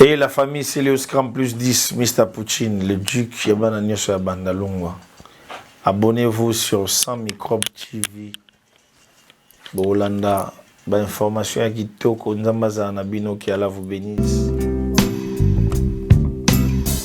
Et la famille Celios Cram plus 10, Mr. Poutine, le duc Yabana Nyoso Yabanda Longwa. Abonnez-vous sur 100 Microbes TV. Bolanda, ba information ya kitoko, nzambaza na bino, que Allah vous bénisse.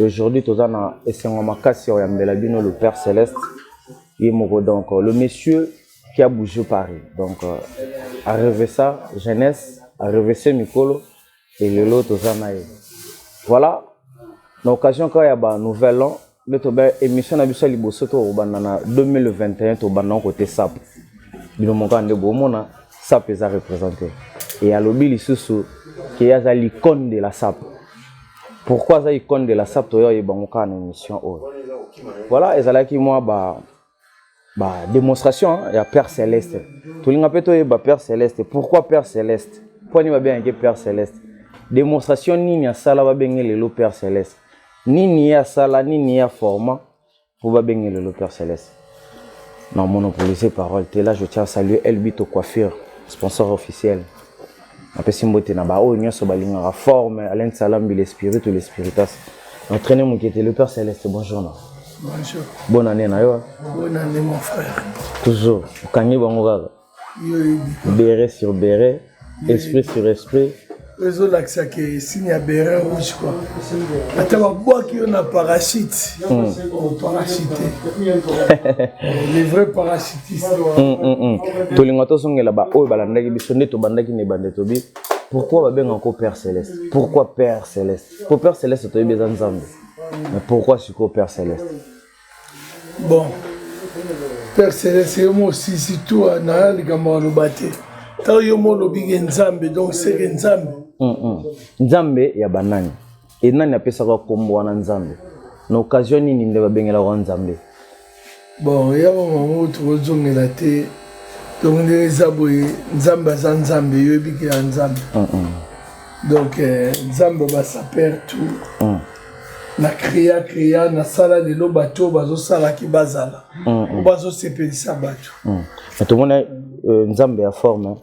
Aujourd'hui toza na esengo makasi ya oyambela bino le Père Celeste ye moko donc le monsieur qui a bougé Paris donc euh, a rêvé ça jeunesse a rêvé ce mikolo et lelo toza na ye voilà na occasion kaka ya ba nouvel an nde tobe émission na biso ya liboso tokobanda na 2021 tobanda kote sapo bino moko nde bomona sap eza represente e alobi lisusu ke ye aza l'icone de la sap pourquoi aza icone de la sap toya oyeba yango kaka na émission oyo voilà ezalaki mwa ba ba démonstration ya père céleste tolinga mpe toyeba père céleste pourquoi père céleste mpo ani babengaki père céleste démonstration nini asala babenge lelo père céleste nini ye asala nini ye aforma Vous va bien le Père Céleste. Non, monopoliser parole. T'es là, je tiens à saluer Elbito Coiffure, sponsor officiel. napesi mbote na baoyo nyonso balingaka forme alain salambi le spirit ou le spiritas entraîne mokete le père céleste bonjour na bonjour bonne année na yo bonne année mon frère toujours okangi bango kaka beret sur beret esprit sur esprit ezolakisa ke signe ya beret rouge kua ata babwaki yo na parachute hmm. oh, parachute le vrai parachutiste hmm, hmm, tolinga tozongela baoyo balandaki biso nde tobandaki na ebande tobi pourquoi babengaka ko père céleste pourquoi père céleste po père céleste toyebi eza nzambe mais pourquoi sikoyo père céleste bon père celeste yo mo osisi tu ah, na likambo aloba te ntango yo mo olobi ke nzambe donc seke nzambe mm, mm. nzambe ya banani e nani apesaka nkombo wana nzambe na occasion nini nde babengelaka wana nzambe bon ya mamango tokozongela te donc ndenge eza boye nzambe aza nzambe yo ebikela nzambe mm, donc eh, nzambe basapere tout na créa créa nasala lelo bato oyo bazosalaki bazala mm, mm. bazosepelisa bato mm. tomona euh, nzambe ya forme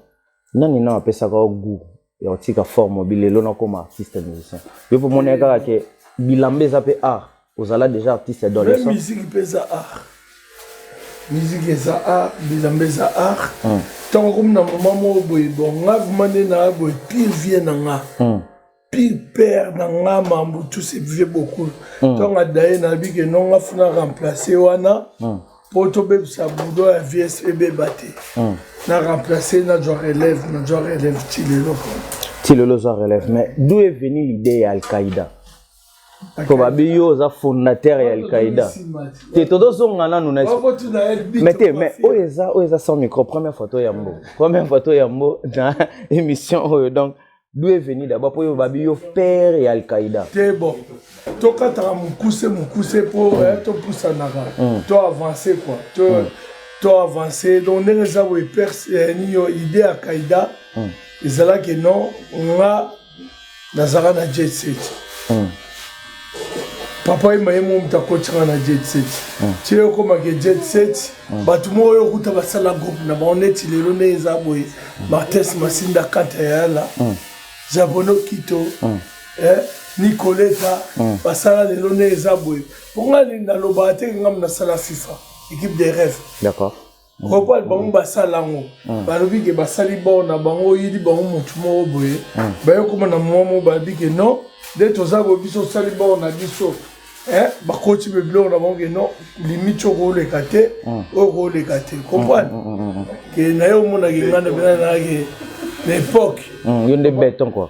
nani nao apesaka yo gout ya kotika forme obi lelo nakoma artiste musicien yo mpo omonaki kaka ke bilamba eza mpe art ozala déjà artiste adolescent musique mpe eza art musique eza art bilamba eza art ntango akomi na moma moko boye bon nga vrima nde naa boye pire vie na nga pire père na nga mambu tout se vivait beaucoup mm. ntango adaye nayebi ke nonga funa remplace wana mm. mpo tobebisa budo ya vies ebeba te mm. na remplace nazwa relève nazwa relève ti lelo ti lelo ozwa relève mais d'où est venu l'idée ya alqaïda mpo babi yo oza fondateur ya alqaïda te tozozonga nanu na mais te mais oyo eza oyo eza sans micro première photo ya mbo première photo ya mbo na émission oyo donc D'où est venu d'abord pour yo babi yo père ya Al-Qaïda Te bon. Tokataka mukuse mukuse po mm. eh, topusanaka. Mm. To avancer quoi. To mm. to avancer donc ndenge eza boye père eh, niyo idée ya Qaïda mm. ezalaki non nga nazalaka na jet set. Mm. papa yemba ye moko moto akotisaka na jet set hmm. ti yo okomake jet set hmm. bato moko yo okuta basala groupe na bango neti lelo nde eza boye hmm. martes masinda kata yala jabono kito eh, nicoleta basala lelo nde eza boye mpo ngai nalobaka te ngambo nasala fifa équipe de rêve d'accord moko ya bango basala yango hmm. balobi ke basali bor na bango oyeli bango motu moko boye hmm. bayokoma na mwa moko balobi ke non nde toza boye biso osali bor na biso eh, bakoti mpe biloko na bango ke non limite oyo kooleka te hmm. oyo kooleka te comprendre ke na ye omonake ngai na mpenza nayake na époque yo nde beton quoi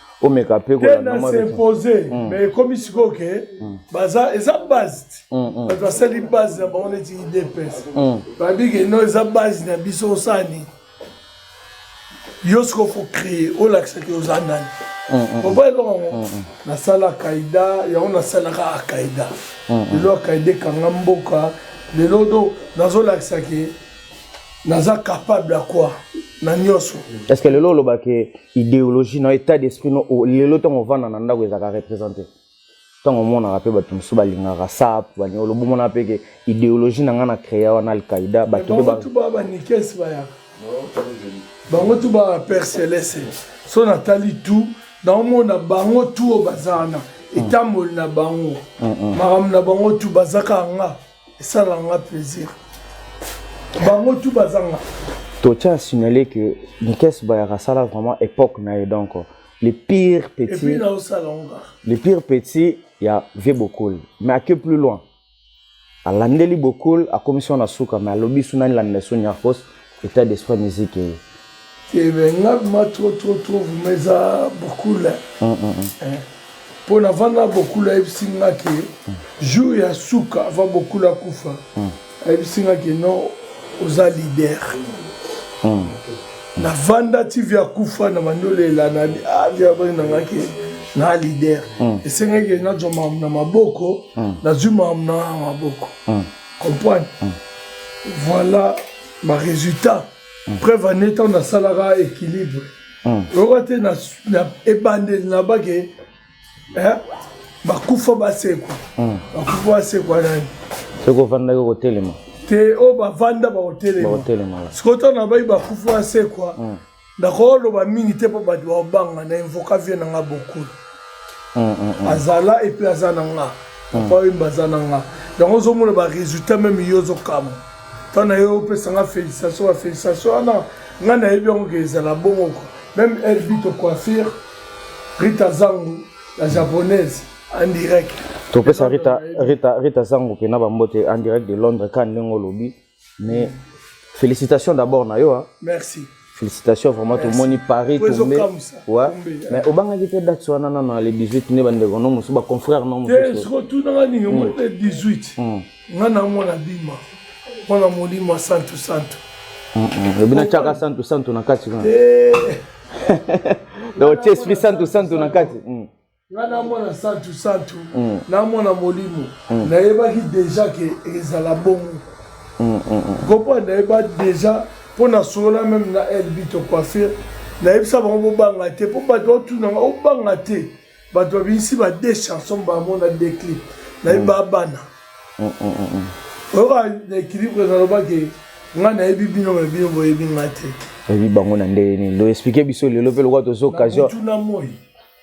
omeka mpe kolanda mwa s'impose mm. mais ekomi sikoyo ke mm. baza eza base ti mm, bato basali base na bango neti idps babi ke no eza base na biso osala nini yo sikoyo fo créer olakisa ke oza nani oba eloko yango nasala akaida yango nasalaka akaida lelo akaida ekanga mboka lelo do nazolakisa ke naza capable ya quoi na nyonso est ce que lelo olobake ideologie na état d'esprit no oh, lelo ntango ovanda na ndako ezalaka représente ntango omonaka mpe bato mosusu balingaka sap baniolo bomonaka mpe ke ideologie na ngai na créa wana alqaida bato mpe ba banikes bayaka bango tu ba père celeste so natali tu naomona bango tu oyo baza wana etamboli na bango makambo na bango tu bazaka nga esalaka nga plaisir bango tu bazanga totya a signale que nikes bayaka asala vraiment époque na ye donc le pire petit le pire petit ya vie bokoli mais ake plus loin alandeli bokoli akomisi wana suka mais alobi su nani lamina so nyarkos Etat d'esprit ya musique eye. Eh ben nga ma trop trop trop vraiment eza bokula. Mm -mm. Mpo navanda bokula ayebisi nga ke mm. jour ya suka avant bokula kufa mm. ayebisi nga ke non oza leader. Mm. Navanda ti via kufa na mandolela na ah via bana na nga ke na leader. Mm. Esengaki nazwa na maboko mm. nazwi na maboko. Mm. comprendre mm. voilà ba résultat mm. preuve en étant nasalaka équilibre mm. oyoka te na ebandeli na bake eh, bakufa basekwa mm. bakufa basekwa nani soki ofandaki okotelema te oyo bavanda bakotelema sikoyo ntango na bai bakufa basekwa mm. nakoloba mingi te mpo bato baobanga na invoka vie na nga bokulu mm, mm, mm. azala epuis aza na nga papa oyemba aza na nga yango ozomona baresultat meme yo ozokamwa ntango na yo opesa nga félicitation bafélicitation wana ngai nayebi yango ke ezala bongo kwa meme elbito coiffure rita zangu la japonaise en direct topesa rita, rita, rita zangu mpe na bambote en direct de londres ka ndenge olobi mais félicitations d'abord na yo hein. merci félicitations vraiment tomoni paris tombe ouais. mais obangaki te date wana nano na le 18 nde bandeko no mosusu baconfrère no mosusuotunanga nini omoni le 18 nga na mwana bima mwana molimo santu santu lobi natyaka santu santu na kati kuna donc otie esprit santu santu na kati nga na mwana santu santu mm. na mwana molimo mm. nayebaki deja ke ezala bongo mm, kopo nayeba deja mpo nasolola meme na elbi to coiffure nayebisa bango bobanga te mpo bato baotunanga obanga te bato babimisi ba de chanson bamona declip nayeba bana oyoka na équilibre nalobaki ngai nayebi bino me bino boyebi ngai te oyebi bango na ndenge nini loexplike biso lelo mpe lokola toza occasion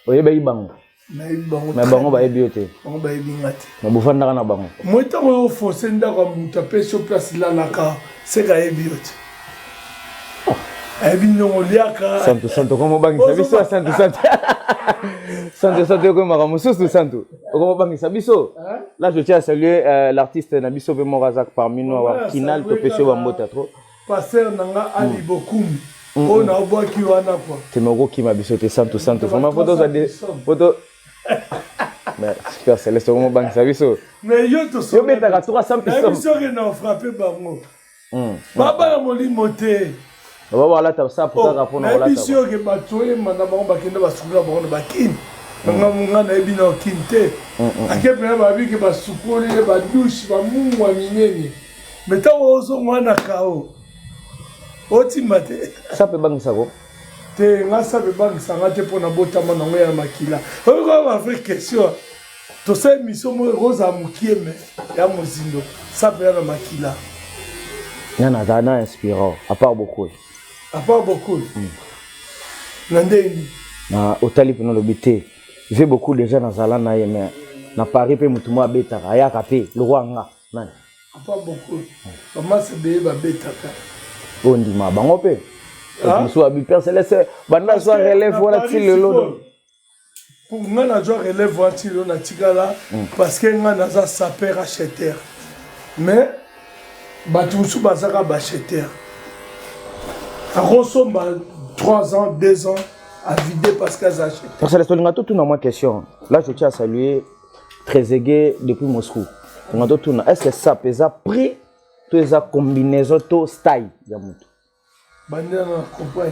oyebaki bango me bango bayebi yo te bango bayebi nga te me bofandaka na bango moi ntango yo oforce ndako ya moto apesi yo place lalaka seka ayebi yo te ayebi ndongo liaka santu santu okomobangisa biso santu santu santu santu ekomi makambo mosusu santu okomobangisa biso là je tiens à saluer euh, l'artiste na biso mpe moko aza parmi nous awa kinal topesi yo bambota trop Pasteur na nga Ali Bokum. Oyo na obwaki wana kwa. Te mais okokima biso te santu santu. Vraiment poto za de poto Mais Super Celeste okomo bangisa biso. Mais yo to so. Yo betaka 300 piso. Mais biso ke na frapper bango. Mm. Baba ya molimo te. Baba walata sa pour kaka pona walata. Mais biso yo ke bato yema na bango bakenda basukula bango na bakini. nga munga nayebi na okini te ake mpena babi ke basukoli ye badushe bamungwa minene me ntango ozonga wana kao otimba te sape ebangisa ko te nga sape ebangisa nga te mpo na botama nango ya makila oyokaa bavrai question tosala emission moko ekozala mokie me ya mozindo sape ya na makila nga naza na inspirant apart bokoli apart bokoli hmm. na ndenge na otali mpena olobi te vie bokoli deja nazala na ye me na paris mpe motu moko abetaka ayaka mpe lokwa nga Nani? Papa Boko. Maman Sebeye babetaka. Oyo ndima bango mpe. Ah? Mosusu abi Père Céleste banda zwa relève wana ti lelo. Pour nga na zwa relève wana ti lelo natikala hmm. parce que nga naza sapeur acheteur. Mais bato mosusu bazaka bacheteur. Akosomba 3 ans, 2 ans à vider parce qu'elles achètent. Père Céleste olinga totuna mwa question. Là je tiens à saluer Trezeguet depuis Moscou. Tonga to tuna est-ce que ça pesa prix to eza combinaison to style ya mutu.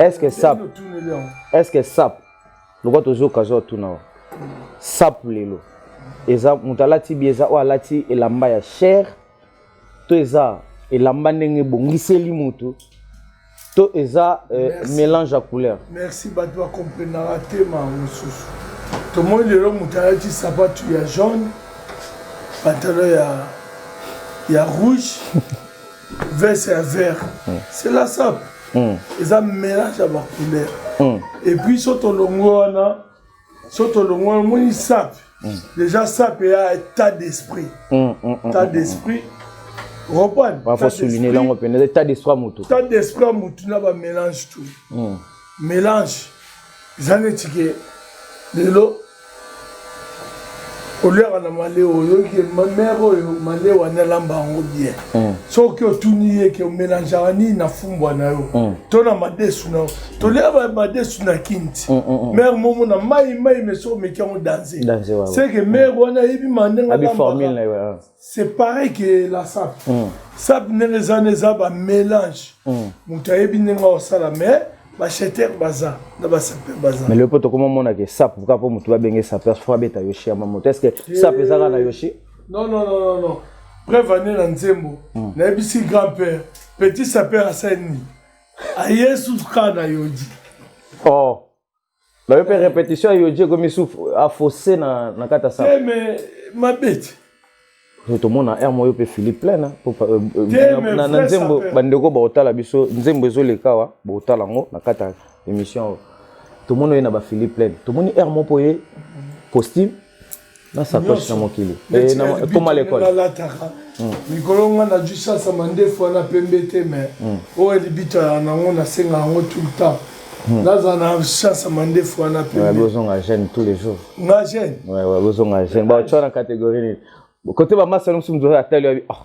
Est-ce que ça Est-ce que ça lokola tozo kazo tuna wa. Sap lelo. Eza mutu alati bi eza o alati elamba ya cher to eza elamba ndenge ebongiseli motu to eza euh, mélange ya couleur merci bato bakomprenaka tema mosusu tomoni lelo moto alati sapatu ya jaune pantalon ya, ya rouge veste ya vert mm. c'est la sape mm. eza mélange ya bacouleur mm. epuis so tolongo wana so tolongwa omoni sap mm. déjà sap eya état d'esprit mm, mm, état d'esprit reprendre yango mpenza état d'esprit ya motu état d'esprit ya motu na bamélange tout mélange eza neti ke lelo oliaka na maleo oyoki ye mere oyo maleo ani alamba yango bien mm. soki otuni ye ke omelangeaka nini na fumbwa na yo mm. to na madesu na yo tolia madesu na kinti mm, mere momo na mai mai meso omeki yango danze seke mere wana ayebi mandenge alambaka c'est pareil que la sap mm. sap ndenge eza na eza ba mélange mm. moto ayebi ndenge akosala mais bacheter baza na basaper baza mais lepo tokoma omona ke sap kaka mpo moto babenge saper fo abeta yoshi ya mamoto est ce que eh. sap eza kaka na yoshi non non non non non preuve ane na nzembo mm. nayebisi grand père petit saper asali nini ayesu kaka na yodi oh Na yo pe repetition yo je komi sou a faussé na na kata sa. Eh mais ma bête. To mona air moyo pe Philippe plein hein. euh, euh, na na nzembo bandeko ba otala biso nzembo ezo lekawa ba otala ngo na kata émission. To mona ye na ba Philippe plein. To moni air mo poye costume na sakoshi na mokili ekoma eh, lekole nalataka hmm. mikolo nga najui sasa mandefu wana pembe te mai hmm. oyo libita ya nango nasenga yango tout le temps hmm. nazala na sasa mandefu wana pembebozonga jeune tous les jours nga jeune bozonga jeune baotyo na catégorie nini kote bamasa nomosi moto atali yabi ah,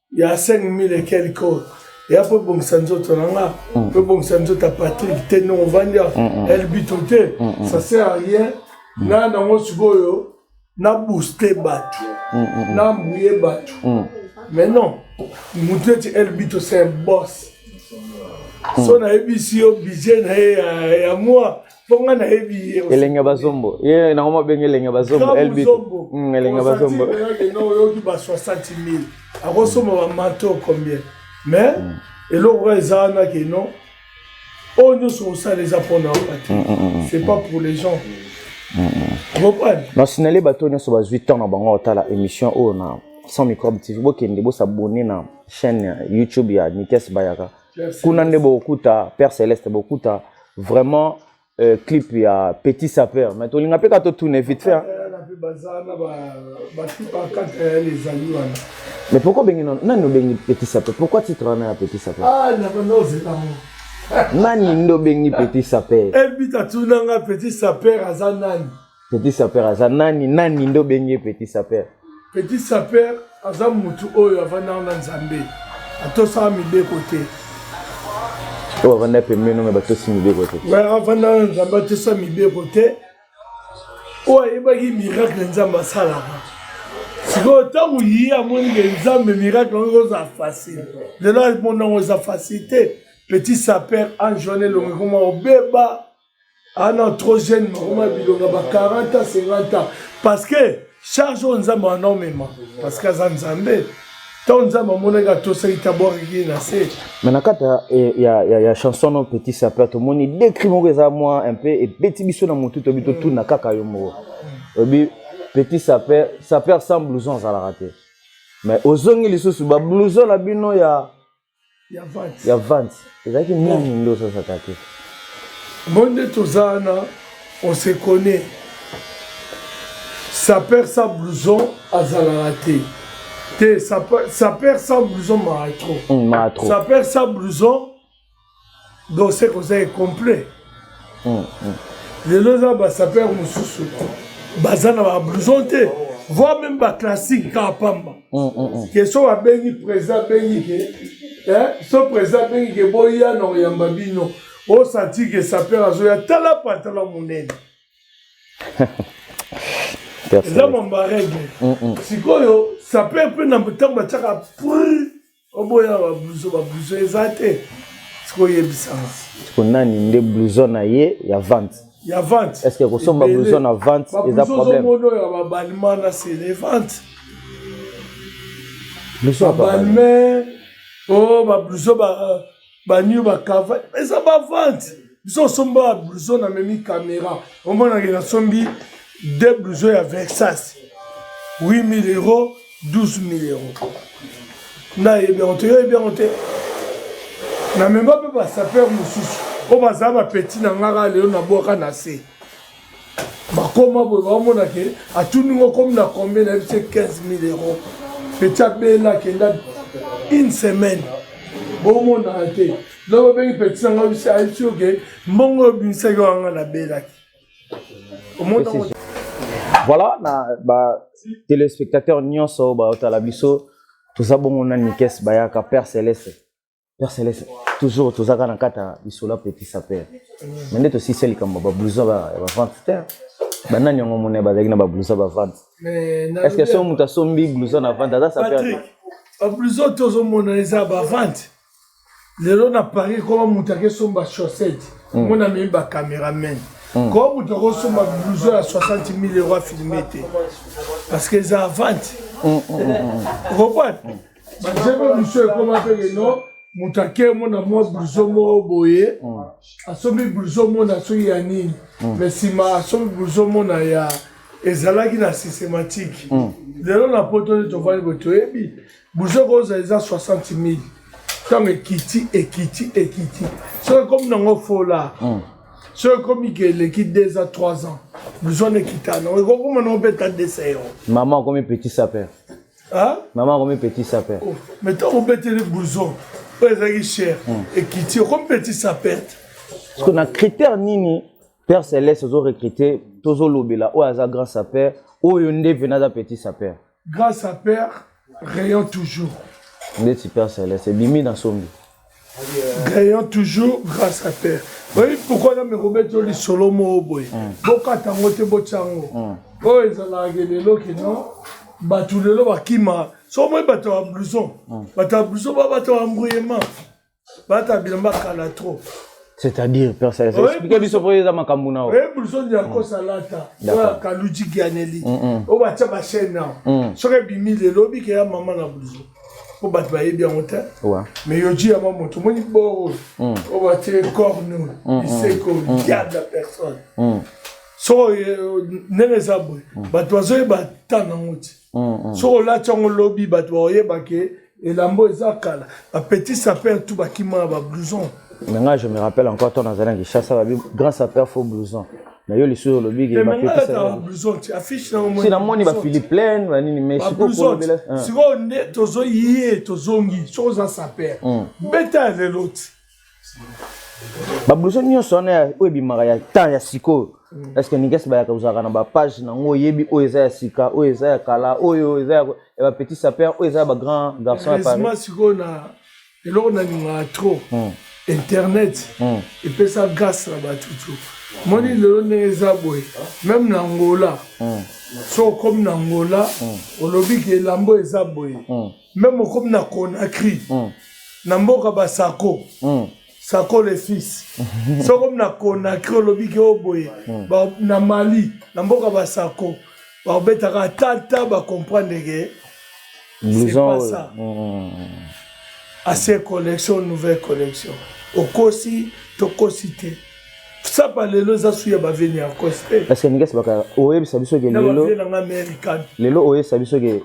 ya 5000 et quelque oyo eya mpo ebongisa nzoto na nga mpo mm. ebongisa nzoto ya patrik te ndenge ovandi ya mm, mm. elbito te ça sert à rien na nango sikoyo na booste bato na mbuye bato mais non motu neti elbito c'est un boss so nayebisi yo budget na ye ya mwa Fonga na yebi ye. Elenga bazombo. Ye na ngoma benga elenga bazombo LB. Mm, elenga bazombo. Non yo ki ba 60000. Ako soma ba mato combien? Mais mm. eloko eza na ke non. Oyo nyonso osala eza mpo na oba te. C'est pas pour les gens. nasinale bato nyonso bazwi temps na bango otala émission oyo na sans microbe tv bokende bosabone na chaîne youtube ya nikes bayaka kuna nde bokuta père céleste bokuta vraiment euh, clip ya petit sapeur mais tolinga mpe ka totune vite fait mais pourquoi obengi nani obengi petit sapeur pourquoi titre wana ya petit sapeur ah, nani nde obengi petit sapeur elbita tunanga petit sapeur aza nani Petit sapeur aza nani nani nde obengi petit sapeur? Petit sapeur aza mutu oyo avandaka na Nzambe atosaka mibeko te oyo avanda pembeni me batosi mibeko te avanda na Nzambe atosa mibeko te oyo ayebaki miracle Nzambe asalaka sikoyo ntango ye amoni ke Nzambe miracle yango ekozala facile lelo alimonango eza facile te petit sapeur ange wana elongi koma obeba ah non trop jeune makoma bilonga ba 40 ans 50 ans parce que charge oyo nzambe wana omema parce que aza nzambe ntango nzambe amonaki atosaki tabwakaki ye na se me na kati ya, ya, ya chanson no petit sapeur tomoni dekri moko eza mwa un peu ebeti biso na motu toyebi totuna kaka yo moko oyebi petit sapeur sapeur sans blouson azalaka te mais ozongi lisusu bablouson na bino ya ya vante ezalaki nani nde osasaka te mo nde toza wana on se connaît saper sa blouson azalaka te te saper sa blouson maatro hmm, saper sa blouson donc seke oza incomplet hmm, hmm. lelo eza basaper mosusu baza na bablouson te voir même baclassique kaka pamba hmm, ke so babengi président abengi ke so président abengi ke boya na koyamba bino osanti ke saper azoya tala pantala monene eza mamba regle sikoyo saper mpe na ntango batiaka oboya ba blouson ba blouson eza te siko oyebisanga siko nani nde blouson na ye ya vente ya vente est ce que kosomba blouson na vente eza problème oyo ya babalima na se les ventes babalime o bablouson ba banio bakava eza bavante biso osomba ba blouson na memi caméra omonake nasombi de blouson ya versas 8000 euro 12000 euro nayebi yango te yoyebi yango te na mema mpe basaper mosusu oyo bazala bapeti na ngaka lelo nabwaka na se bakoma boye baomona ke atuni ngo komi na combien nayebi se 15000 euro peti abela akenda une semaine bomonaka te loko obengi peti nanga bisi ayebisi oke mbongo oyo bimisaki wanga nabelaki omona voilà na ba téléspectateur nyonso baotala biso toza bongo na nikes bayaka père celeste Père Céleste, toujours tozaka na kata lisolo ya petit sapeur. Mais nde tosisi likambo ba blouson ba ba vente te. Ba nani yango mona bazalaki na ba blouson ba vente. Est-ce que soki moto asombi blouson na vente aza sapeur? Patrick, ba blouson tozomona eza ba vente. Lelo na Paris koma moto akesomba chaussette. Mm. Mona mimi ba cameraman. Mm. Koma moto akosomba blouson ya 60 000 euros afilme te. Parce que eza vente. Mm, mm, mm, mm. Reprendre. Mm. banzembo misu ekoma mpe lelo moto ake mona mwa bluson moko boye mm. asombi bluson mona soki ya nini mm. mais nsima asombi bluson mona ya ezalaki na systematike mm. lelo na poto nde tofandi boye toyebi bluson kozala eza 60 000 ntango ekiti ekiti ekiti soki ekomi nango fola soki ekomi ke eleki deux a trois ans bluson ekita nango ekokoma nango mpe ta desa yango mama okomi petit sapeur mama akomipetisa mpe oh, me ntango obeteli bouson oyo ezalaki cher hmm. ekiti okomipetisa perte parceke na critère nini père celeste ozo recrute tozolobela oyo aza grand sapeur oyo nde pene aza petit sapeur grand sapeur rayon toujours ndeti père celeste ebimi na sombi gagnant toujours grâce à terre oyebi pourkoi na mekobeti yo lisolo moko boye mm. bokata yango te botya yango mm. oyo ezalaka ke lelo kino bato lelo bakima soko moi bato ya blouson mm. bato ya blouson ba bato ya embrouillement bato ya bilamba kala trop c'est-à-dire explike biso mpo eza makambo na oye blouson ya kosalata oyo ya kaluji gianeli oyo batya bachaine nao soki ebimi lelo obikeya mama na blouson po bato bayebi yango te mais yoji yango moto omoni boro mm. oyo batie corne mm, mm. liseko diable ya personne soko eh, ndenge eza boye bato bazoyeba ta nango ti soko olati yango lobi bato baoyeba ke elambo eza kala bapetit sapeur tu bakima na bablouson mais ngai je me rappelle encore ntango nazali na kinshasa babi grand sapeur fo blouson na yo lisusu olobi ke ba pete ça va blouson tu affiche na moi sina moni ba Philippe plein ba nini mais siko ko bela siko nde tozo yie tozongi soko za saper hmm. beta le lot ba blouson nyonso wana oyo ebimaka ya temps ya sikoyo hmm. est ce que ninges bayaka ozalaka na bapage nango oyebi oyo eza ya sika oyo eza ya kala oyo eza ya bapetit saper oyo eza ya bagrand garçon ya paris eloko nalingaka trop hmm. internet hmm. epesa grâce na bato tu moni lelo ndenge eza boye meme na ngola hmm. so okomi na ngola olobi ke elambo eza boye meme okomi na conakry na mboka basako sako le fils so okomi na conakry olobi ke oboye oh na mali na mboka basako bakobetaka ata ata bacomprendre ke c'est pas ça mm, mm, mm. assez collection nouvelle collection okosi tokosi te sapa lelo eza su ya baveni ya kosi te parceke ndenge esibaka oyebisa biso ke lelo lelo oyebisa biso ke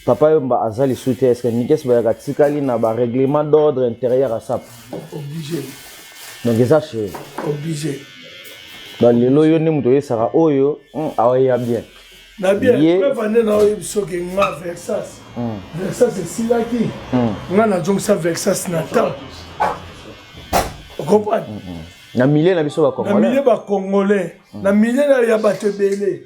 Papa Yomba aza lisu te eske Mikes Bayaka atikali na ba règlement d'ordre intérieur à SAP Obligé. Donc eza chez Obligé. Ba lelo yo nde moto oyesaka oyo hmm, aweya bien. Na bien, mpe vande na oyebi soki nga Versas. Hmm. Versas esilaki. Hmm. Nga nazongisa Versas na temps. Okomprendre? Na milieu na biso ba Congolais. Na milieu ba Congolais. Na milieu ya bato ebele.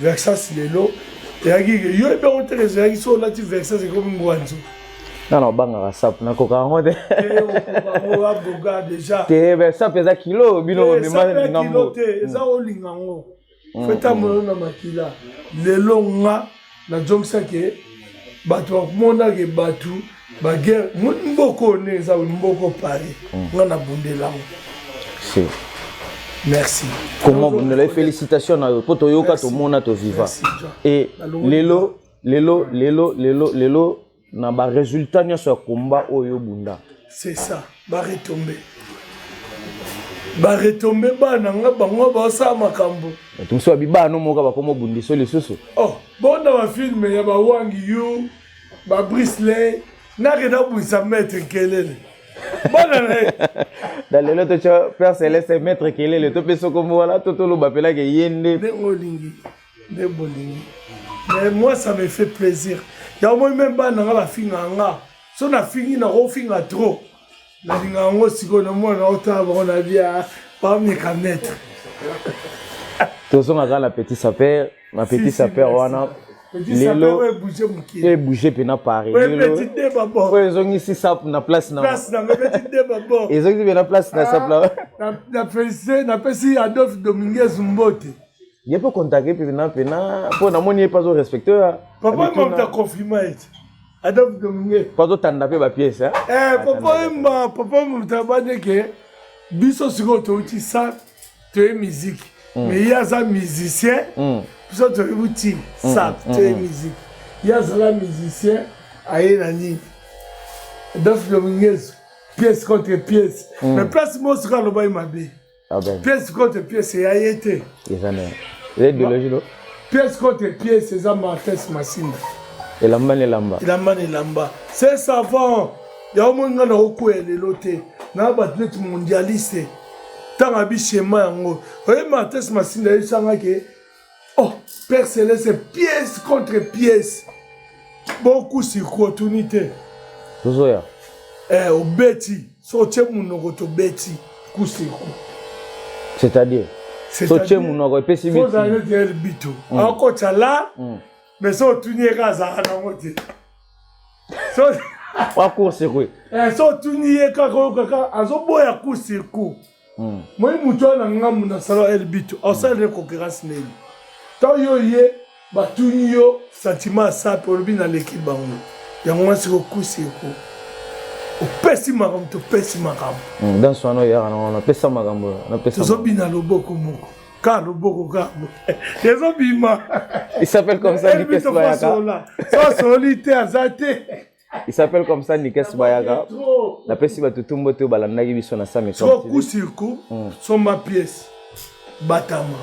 Versas lelo eyaki yo epe yango te ezalaki so olati versas ekomi ngwanzo nga na obangaka sapu nakoka yango te te sapu eza kilo bino bomemangambo eza olinga yango feta moyo na makila lelo nga na jomisaki bato bamonake bato ba guerre mboko ne eza mboko pari hmm. nga na bundela ngo si merci comment bundela félicitations na yo po to yoka to mona to viva et lelo lelo lelo lelo lelo na ba résultats nyonso ya combat oyo bunda c'est ça ba retomber baretombe bana nga bango basala makambo mosusu babibano moka bakoma obundisa lisusu oh, bona bafilme ya bawangi yo ba brise ley nake nabwisa maître kelele bana na ye na lelo totya père celeste maître kelele topesa okombo wana to toloba mpelake ye nde nde olingi nde bolingi mais moi ça me fait plaisir yango moi meme bana nga bafinga nga so nafingi nakofinga trop nalinga yango sikoyo na mwana na otala bango na bia bameka maître tozonga kaka na petit sapeur na petit sapeur wana lelo ebouge mpe na paris oyo ezongisi sapu na place na ezongisi mpe na place na sapu napesi ah, adolphe dominguez mbote ye mpe contacte mpe pena mpena mpo namoni ye mpe azo respecte papa mamta confirma ete Adolphe Domingue. Pazo tanda pe ba pièce hein. Eh papa emba papa mutabane ke biso siko to ti sa to e musique. Mm. Mais ya za musicien. Mm. Biso to e buti sa to e musique. Ya za la musicien aye na nini. Adolphe Domingue pièce contre pièce. Mm. Mais place mo sika loba mabe. pièce contre pièce ya ye te eza na ideologie do pièce contre pièce eza martes masimba elamba na elamba elamba na elamba c'est savant yango moi ngai nakokwea lelo te na bato neti mondialiste ntango abi shema yango oye martes masimba yebisanga ke oh père celeste pièce contre pièce beaucoup sikoyo otuni te tozoya eh, obeti so otye monoko tobeti kusiku c'est-à-dire so otye monoko epesi bitozalete bitu mm. akotya la mm. mais so otuni ye ka azalaka nango te wakursiku eh, so otuni ye kaka oyokaka azoboya kursiku hmm. moi moto wana ngambo nasala elbito asalele hmm. concurrence nini to yo ye batuni yo sentiment ya sape olobi naleki bango yango wana siko kusi eko opesi makambo topesi makambo hmm, danse wana oyaka nango napesa makambo tozobina loboko moko ka loboko ka ezobima il s'appelle comme ça likesoyaka so asololi te aza te il s'appelle comme ça nikes bayaka napesi bato tumbo te balandaki biso na sami trop coup sur coup hmm. somba pièce batama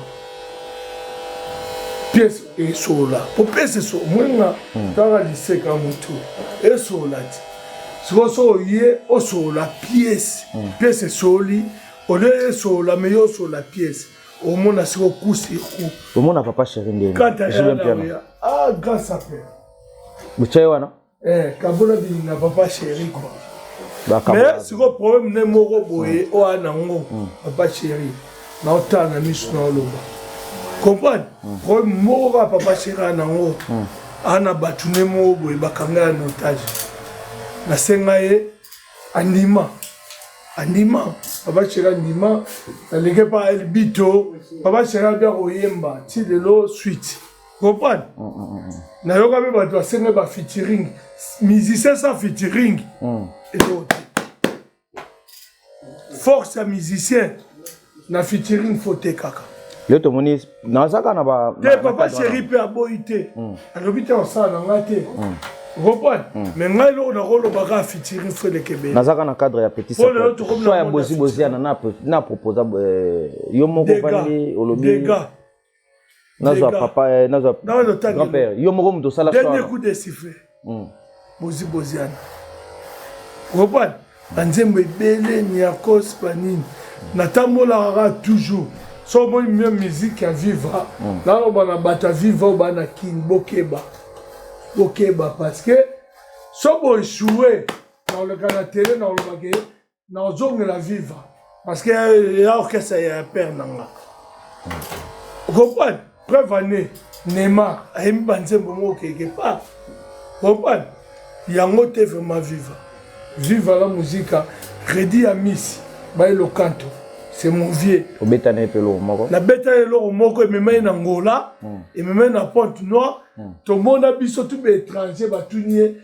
pièce esola po pièce eso moninga hmm. tanga liseka motu esola ti sikoyo so oye osola pièce hmm. pièce esoli olie esola me yo osola pièce omona sikoyo coup sur coup omona papa chéri ndeni kata ya ah grâce à père botya ye wana eh, kabona bilinga papa chéri quoi mais sikoyo problème nde moko boye oyo a nango hmm. papa chéri naotala na miso na oloba comprendre hmm. problème moko kaka papa chéri a nango hmm. ana bato nde moko boye bakanga ya notage nasenga ye andima andima papa chéri andima naleke pa elbito papa chéri abia koyemba ti lelo suite comprendre mm, mm, mm, nayoka mpe bato asenge ba featuring musicien sa featuring eloko te force ya musicien na featuring fo te kaka yo tomoni nazaka na ba te papa chéri mpe aboyi te alobi te osala na ngai te comprendre mais ngai eloko nakoloba kaka featuring fo elekebele nazaka na cadre ya petit ya boziboziana na proposa euh, yo moko vandi olobi nazwa papa eh, nazwa grand père yo moko moto osala dernier coup de sifflet hmm. bozi boziana kopani banzembo ebele niakos banini natambolaka kaka toujours so omoni mio musique ya viva hmm. naloba na bato ya viva oyo bana kin bokeba bokeba parce que so boechoue naoleka na tele naolobake na ozongela viva parce que euh, ya orchestre ya père na nga comprendre preuve année neymar ayembi banzembo moko keke part comprendre yango te vraiment viva viva la musica redi ya misi baye lokanto c'est mon vieux obeta na ye mpe eloko moko nabeta ye eloko moko emema ye na ngola hmm. emema ye na pointe noire hmm. tomona biso tu baétranger batuni ye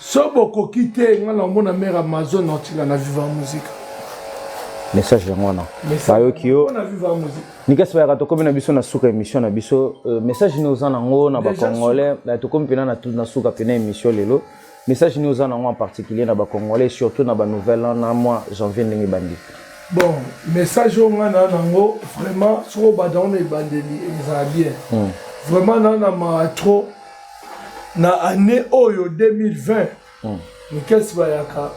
so bokoki te nga na omona mare amazon otinda na viva musique message yango wana bayoki yo nikasi bayaka tokomi na biso na suka émission na biso euh, message nini oza nango na bacongolais tokomi mpena na suka mpena émission lelo message nini oza nango en particulier na bacongolais surtout na banouvelle an na mwa janvier ndenge ebandi bon message oyo ngai naa nango vraiment soko obanda yango na ebandeli ezala bien hmm. vraiment naa na maa trop na année oyo 2020 mm. mikesi bayaka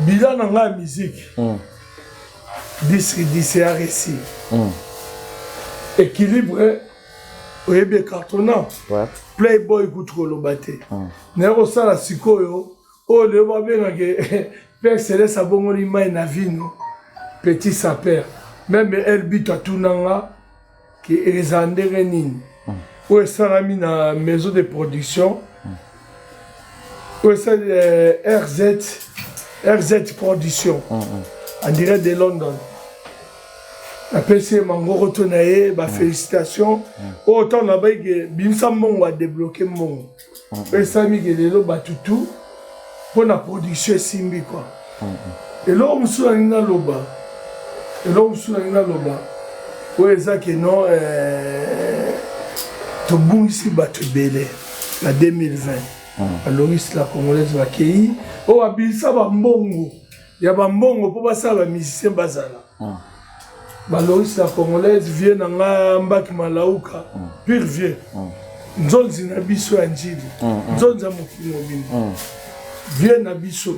bila na ngai ya miziki mm. disridise aresi mm. équilibre oyebi ecartona playboy kutu koloba te mm. naye kosala sikoyo oyo leo babengaka père celeste abongoli mai na vino petit saper meme elbit atuna nga ke eza ndenge nini hmm. oyo esalami na maison de production hmm. oyo esali eh, rz rz production hmm, en direct de london apesi ye mangoko to na ye bafélicitation oyo ntango nabaike bimisa mbongo adebloke mbongo esamike lelo bato tu mpo na production esimbi kwa eloko mosusu nalingi naloba eloko mosusu nalingi naloba oyo eza keno eh, tobungisi bato ebele na 2020 balongisi la congolaise bakei oyo babilisa bambongo ya ba mbongo mpo basala ba musicien bazala mm. baloris la congolaise vieux na nga mbaki malauka mm. pire vieux mm. nzonzi na biso ya njili mm, mm. nzonzi ya mokili mobimba mm. vieux na biso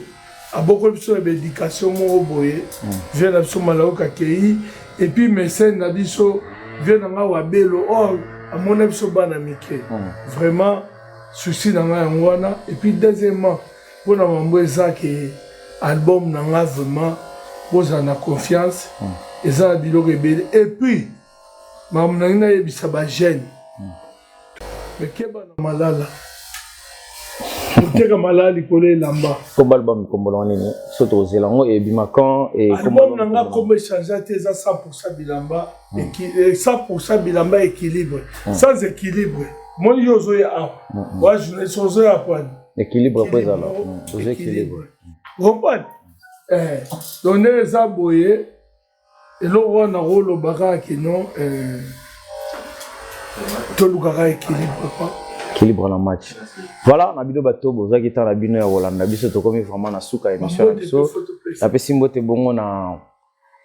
abokoli biso na baéducation moko boye mm. vieux na biso malauka akei epuis mesene na biso vieux na nga wabelo or oh, amona biso bana mike mm. vraiment souci na nga yango wana epuis deuxièmement Pona mambo eza ke album na nga vraiment bozala na confiance mm. eza na biloko ebele et puis makambo nangi nayebisa ba jeune mm. mekeba na malala koteka malala likolo elamba komba album kombolanga nini so tokozela yango ebima quand album na nga kombo echange te eza 100 bilamba 100 mm. bilamba équilibre sans équilibre moni yo ozoya awa wa journaliste ozoya kwani Équilibre après ça là. Vous équilibre. Comprendre? Eh, donner ça boyer. Et là on a rôle baga qui non euh tolukaka équilibre quoi. Équilibre na match. Voilà, na bino bato bozaki tala bino ya Holanda biso tokomi vraiment na suka émission na biso. Napesi mbote bongo na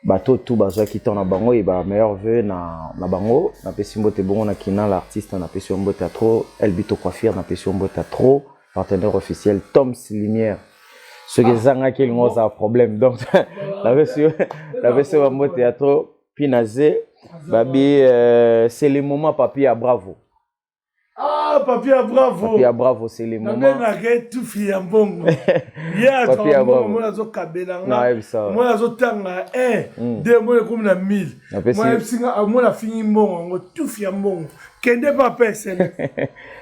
bato tout bazwaki temps na bango et ba meilleur vœux na, na bango napesi mbote bongo na kinal artiste napesi yo mbote ya trop elbito coiffure napesi yo mbote ya trop partenaire officiel toms lumière soki ah. ezangaki elingo ozala problème donc napesi yo napesi yo bambote ya trop pinaze babi euh, c'est le moment papi ya bravo Ah, papia bravo. Papia bravo, c'est le moment. Nabe na ke tu fi ya mbongo. Yeah, papia bravo. Moi azo kabela nga. Na ebisa. Moi azo tanga eh mm. de moi comme na 1000. Moi ebisa nga ah, moi la fini mbongo ngo tu fi ya mbongo. Kende pa pese.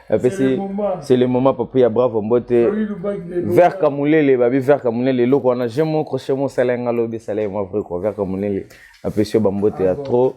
Apesi c'est le moment papia bravo mbote. Vers Kamulele babi vers Kamulele loko wana j'aime mon crochet mon salenga lobi salai moi vrai quoi vers Kamulele. Apesi ba mbote ya ah, trop.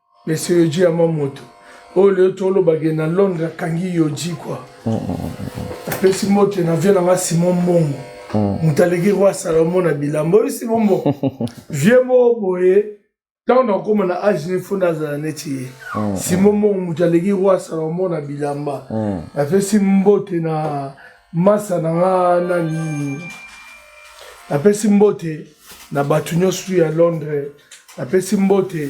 Monsieur Yoji ya moto oyo lelo toloba ke na Londres akangi Yoji kwa mm, mm, mm, apesi mbote na vie na nga Simon Mbongo moto aleki roi Salomon na bilamba oyo Simon Mbongo vieux moko boye ntango nakokoma na age ne fo nazala neti ye Simon Mbongo moto aleki roi Salomon na bilamba napesi mbote na Masa na nga nani napesi mbote na bato nyonso ya Londres, napesi mbote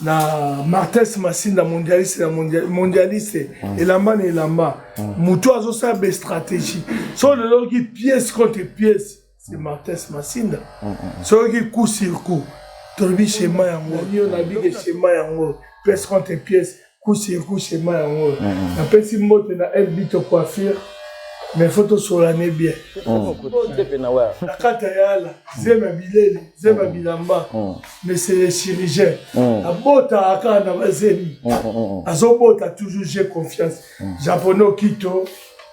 na Martes Masinda mondialiste na mondialiste mm. elamba na elamba mm. mutu azosala be stratégie so lelo ki pièce contre pièce c'est Martins Masinda soki coup sur coup tolobi schéma yango yo na bige schéma yango pièce contre pièce coup sur coup schéma yango napesi mbote na elbito coiffure mais faut tosolane bien na kata ya ala zema bileli zema bilamba mais c'est le chirurgien abotaka kaka na bazemi azobota toujours j'ai confiance japonais okito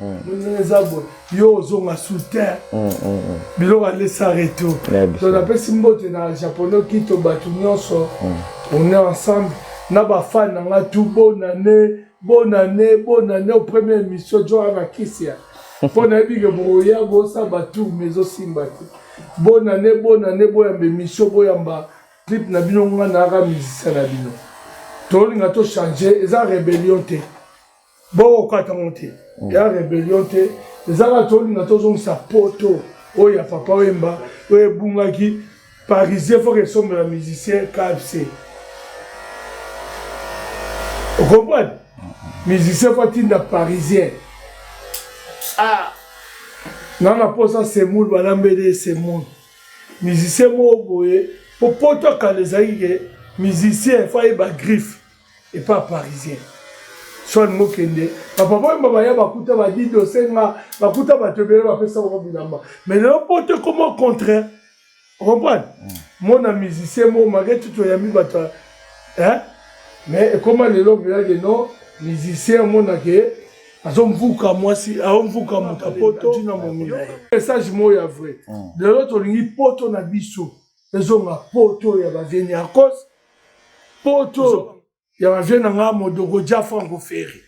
ndenge eza boye yo ozonga soutien mm, mm, mm. biloko alesa reto to napesi mbote na japonais kito bato nyonso on est ensemble na bafani na ngai tu bonane bonane bonane au premier émission joa na kisia mpo nayebi ke bokoya bosamba tour mais ezosimba te bonane bonane boyamba émission boyamba clip na bino ngai nayaka musicien na bino tolinga tochange eza rébellion te bokokata yango te mm. ya rebellion te ezaka tolinga tozongisa poto oyo ya papa wemba oyo ebungaki parisien foke esombela musicien kfc okomprane musicien fo atinda parisien ah. nga na mposa semoul balambeli ye semoul musicien moko boye mpo poto akala ezalaki ke musicien fo ayeba griffe epa parisien soin mokende papa boyemba baya bakuta badidi osenga bakuta bato ebele bapesa bango bilamba mais lelo poto ekoma au contraire ocomprendre mm. mona musicien moko malgré tout oyambi bato mais ekoma lelo bilage no musicien omonake azomvuka mwasi aomvuka moto apoto na momina ye message moko ya vrai mm. lelo tolingi poto na biso ezonga poto ya ba vieux Niarcos poto ya ba vieux na nga Modoko Dia Franco Ferre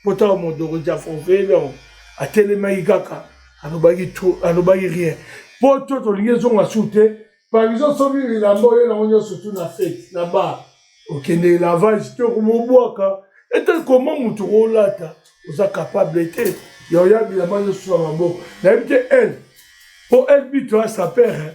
poto ya Modoko Dia Franco Ferre donc atelemaki kaka alobaki tout alobaki rien poto tolingi ezonga su te par exemple soki bilamba oyo nango nyonso tu na fete na bar okende lavage te okomobwaka ete koma moto olata oza capable te ya oya bilamba nyonso na maboko nayebi te ele mpo elbito ya sapere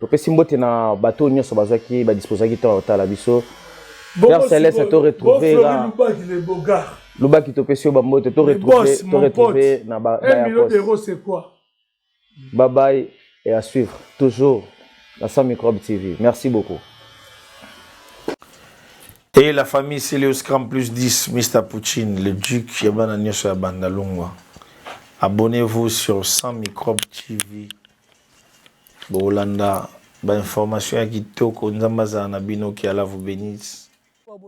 topesi mbote na bato oyo nyonso bazwaki badisposaki ntango ya kotala biso père celeste to retrouve lubaki topesi yo bambote to retrouve na bayakos babaye et à suivre toujours la sans microbe tv merci beaucoup et la famille Celios Cram plus 10 Mr Poutine le duc ya bana nyonso ya banda longwa abonnez-vous sur sans microbe tv Bokolanda ba informations ya kitoko nzambe azala na bino que Allah vous benisse.